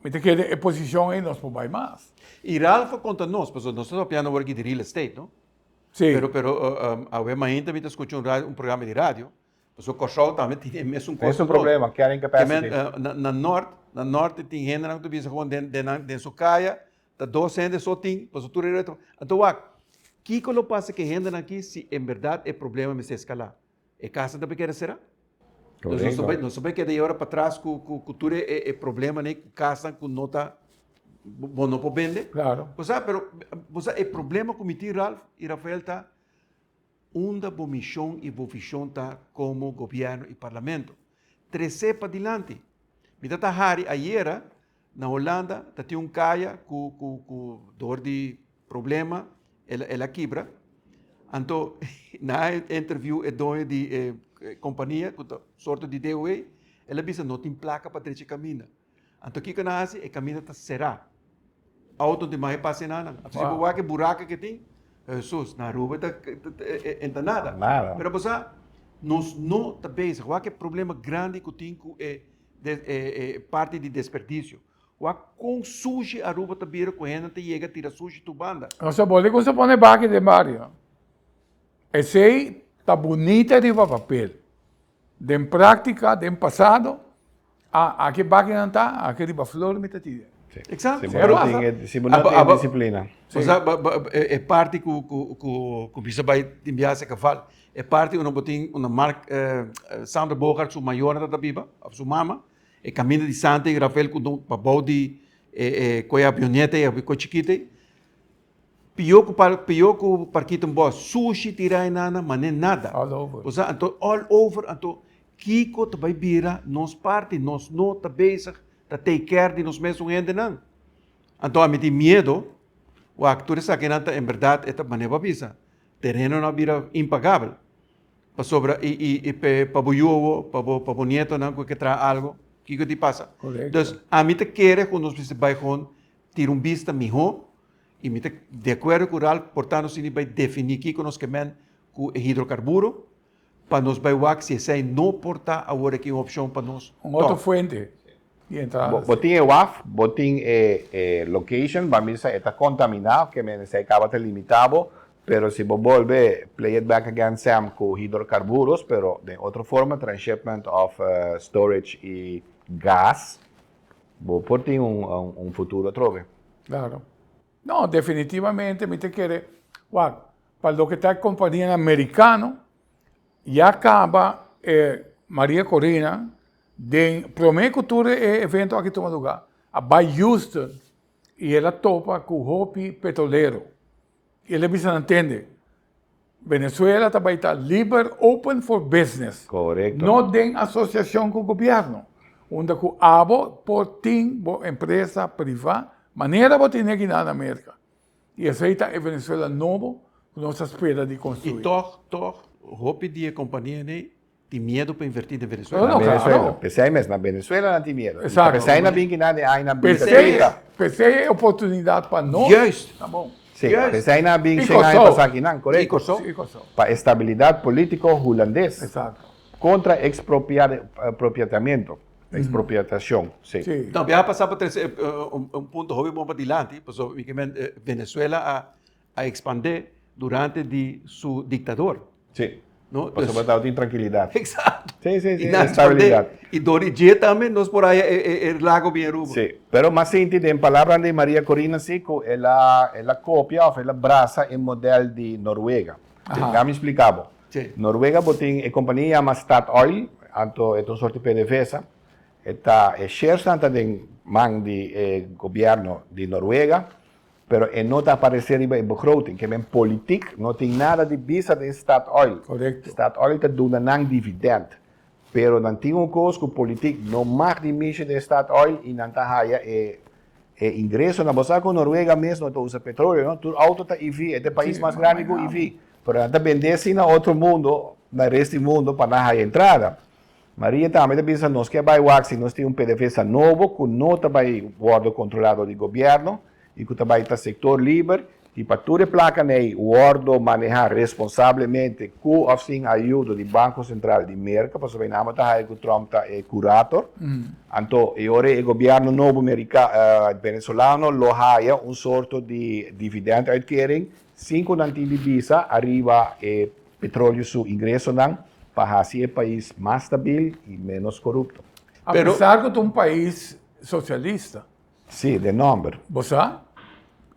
Mi ta kere e posicion ey nos por bay mas. Y Ralph a conta nos, pasobra nos ta trapiando awor aki di real estate, no? Sí. Pero, pero, awe mainta mi ta escucha un radio, un programa di radio, pasobra Corsou tambe tin e mesun cosa. Mesun problema, carrying capacity. Kimen, na Nort, na Norte tin hendenan cu ta bisa gewoon den, den nan, den su caya ta dos hende so tin, pasobra tur e reto. Anto wak, kico lo pasa cu e hendenan aki si en berdad e problema mester escala? E casa ta por keda sera. Correcto. Nos ta por keda e ora patras cu tur e probleman ey, cu casanan cu no ta, bo no por bende. Claro. Bo sa, pero bo sa e problema cu mi tin Ralph y Rafael ta, unda bo mision y bo vision ta como gobierno y parlamento? Trece padilanti. Mi ta ta hari ayera, Na Holanda ta tin un kaya ku ku ku dor di problema el el a kibra. Anto na e interview e doño di e kompania ku ta sorto di DOA el a bisa no tin plaka pa drecha e kaminda. Anto kiko nan hasi? E kaminda ta será. Outo no tin mai pasa na nan. Anto si bo wak e buraka ku e tin, Hesus, na Aruba ta e ta nada. Pero bo sa nos no ta bezig wak e problema grandi ku tin ku e. parti di desperdicio. Wak kon sushi Aruba ta bira ku hende ta yega tira sushi tur banda. Nos ta boli ku nos ta pone baki den bario. Esei ta bunita riba papel. Den praktika, den pasado, a aki bakinan ta, aki riba flor mi ta tira. Exacto. Si bo no tin e, si bo no tin e disiplina. Bo sa e parti ku mi sa bai tin biaha se kaval. E parti unda bo tin, unda Mark, Sandra Bogart su mayornan ta ta biba, of su mama, e kaminda di Santa i Rafael ku don pa bou di e e kue avioneta ei, awe kue chikit ei. Pio ku par, pio ku parkita un bos, sushi tira einana, mané nada. All over. Bo sa, anto all over, anto kiko ta bai bira nos parti? Nos no ta bezig ta take care di nos mesun hendenan. Anto ami tin miedo, wak tur esaki nan ta en berdad e ta mané bo a bisa. Terenonan a bira impagabel pasobra i pa bo yuo, pa bo nietonan cu e ke traha algo, kiko tin pasa? Dus ami ta kere cu nos mester bay gewoon tira un bista miho y mi ta de acuerdo cu Ralph por tando si mi bay defini kiko nos ke men cu e hidrocarburo. Pa nos bai wak si esei no por ta awor eki un opshon pa nos. Un otro fuente di entrada. Bo tin e waf, bo tin e location, bo a misa e ta contaminá, ke menester caba ta limitá bo, pero si bo bolbe play it back again Sam cu hidrocarburos, pero den otro forma, transhipment of storage y gas, bo por tin un futuro atrobe. Claro. No, definitivamente mi ta kere wak. Pa loke ta e companianan mericano, ya caba e Maria Corina den prome cu tur e evento aki tuma lugar, a bay Houston y el a topa cu hopi petrolero y el a bisa nan tende, Venezuela ta bay ta liber, open for business, no den asociacion cu gobierno, unda cu abo por tin bo empresa priva manera bo tene aki na America. I esei ta e Venezuela nobo ku nos ta spera di konstruí. I tòg, tòg, hopi di e kompanianan ei tin miedu pa invertí den Venezuela. Na Venezuela. P'esei mes, na Venezuela nan tin miedu. I ta p'esei nan bin kina den aña nan bin ta trita. P'esei e oportunidat pa nos ta bon. Sí, p'esei nan a bin shen aña pas aki nan, korekto. I Kòrsou. Pa estabilidat polítiko hulandes kontra ekspropiatamentu. Expropiatacion, sí. Sí. No, mi a pasa pa trece un punto hopi bon pa dilanti, pasobra mi ke mente Venezuela a a expande durante di su dictador. Sí. No, pues. Pasobra tabata tin trankilidad. Exacto. Sí, sí, sí, estabilidad. Y dor di dje tambe nos por haya e lago bien Aruba. Sí. Pero mas sinti den palabran di Maria Corina si cu el a el a copia of el a brasa e model di Noruega. Aha. Dehami splica bo. T. Noruega bo tin e kompania yama Statoil, anto e ta un sort di pedevesa, e ta e sharesnan ta den man di e gobièrnu di Noruega, pero e no ta aparesé riba e begroting, ke men politik no tin nada di bisa den Statoil. Korekto. Statoil ta duna nan dividènt, Pero nan tin un kos ku politik no mag di mishi den Statoil i nan ta haya e ingresonan. Bo sa ku Noruega mes no ta usa petroleo, no? Tur outo ta EV. E ta e pais mas grandi ku EV. Pero nan ta bend'é asin na otro mundo, na res di mundo, pa nan haya entrada. Maria tambe ta bisa nos ke bai wak si nos tin un pedefesa nobo ku no ta bai wòrdu kontrolado di gobièrnu y cu ta bay ta sector liber y pa tur e placanan ey wordo maneha responsablemente cu of sin ayudo di Banco Central di Merca, pasobra e namo ta haya cu Trump ta e curator, anto e ora e gobierno nobo Mericano, eh, Venezolano lo haya un sorto di dividend uitkering sin cu nan tin di bisa ariba e petroleo su ingresonan pa haci e pais mas stabil y menos corupto. Apesar cu ta un pais socialista. Sí, den nòmber. Bo sa?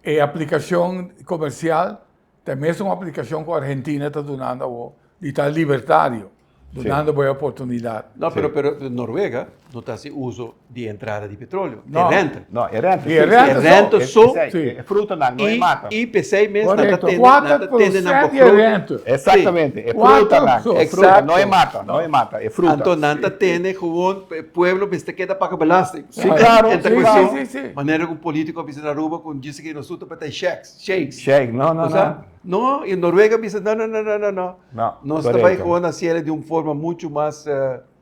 E aplikashon komersial ta e mesun aplikashon ku Argentina ta dunando awor di ta libertario, dunando bo e oportunidat. No, pero, pero Noruega no ta hasi uso di e entrada di petroleo, e renta. No, e renta. E renta so. Sí. E frutanan, no e matan. I, i p'esei mes nan ta tende, nan ta tende nan bo fruta. Exactamente, e frutanan, e fruta, no e matan, no e matan, e fruta. Anto nan ta tende, gewoon pueblo mester keda paga belasting. Sí, claro, sí, sí, sí, sí, sí. Manera cu politico a bisa na Aruba cu djis aki nos su ta p'e shacks, shakes. Shake, no, no, no. No, y en Noruega a bisa, no, no, no, no, no, no. No, correcto. Nos ta bay gewoon haci ela di un forma mucho mas...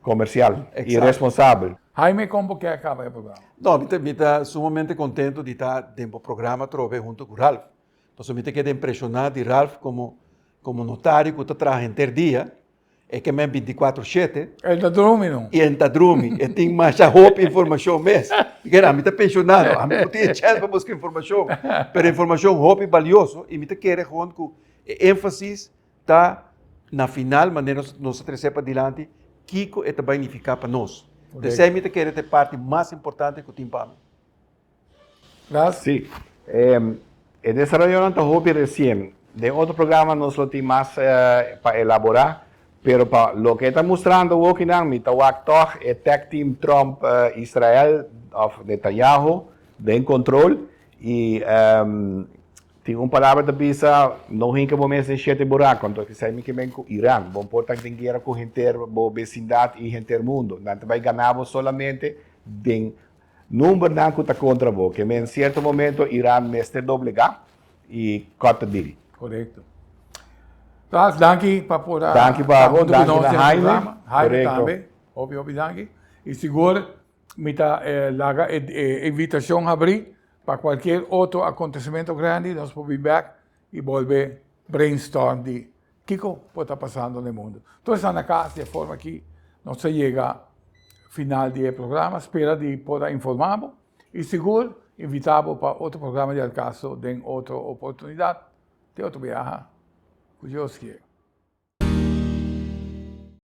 Comercial y responsable. Jaime, con bo kier caba e programa? No, mi ta, mi ta sumamente contento di ta den bo programa otro bes hunto cu Ralph. Pasobra mi ta keda impresiona di Ralph como, como notario cu ta traha henter dia. E ke men binticuatro shete. E ta drumi no. I e ta drumi. E tin masha hopi informashon mes. Kera, ami ta penshonado. Ami no tin e chèns pa buska informashon. Pero e informashon hopi balioso i mi ta kere hond ku e énfasis ta na final manera nos ta tres'é padilanti kiko e ta bai nifiká pa nos. Esei mi ta kere ta e parti mas importante ku tin pa mi. Raz? Sí. E desarayonnan ta hopi recien. Den otro programa nos lo tin mas pa elabora, pero pa loke e ta mustrando wokinan mi ta wak tog e tag team Trump Israel of Netanyahu den control y tin un palabra ta bisa no hinca bo mes den shete buraco, anto esai mi ke men cu Iran, bo por ta den guera cu henter bo vecindad y henter mundo, nan ta bay gana bo solamente den Numbernan cu ta contra bo, que men cierto momento Iran mester doblegá y cut the deal. Correcto. Klaas, danki pa por a Danki pa ta abo, hunto cu danki nos na den e Haime. programa. Haime Correcto. tambe, hopi hopi danki. Y sigur mi ta eh, laga e e invitacion habrí pa cualkier otro acontecimento grandi nos por be back y bolbe brainstorm di Kiko por ta pasando na e mundo? Tur esnan na cas di e forma aki nos a yega final di e programa, spera di por a informa bo y sigur invita bo pa otro programa di El Caso den otro oportunidad. Te otro biaha cu Dios kier.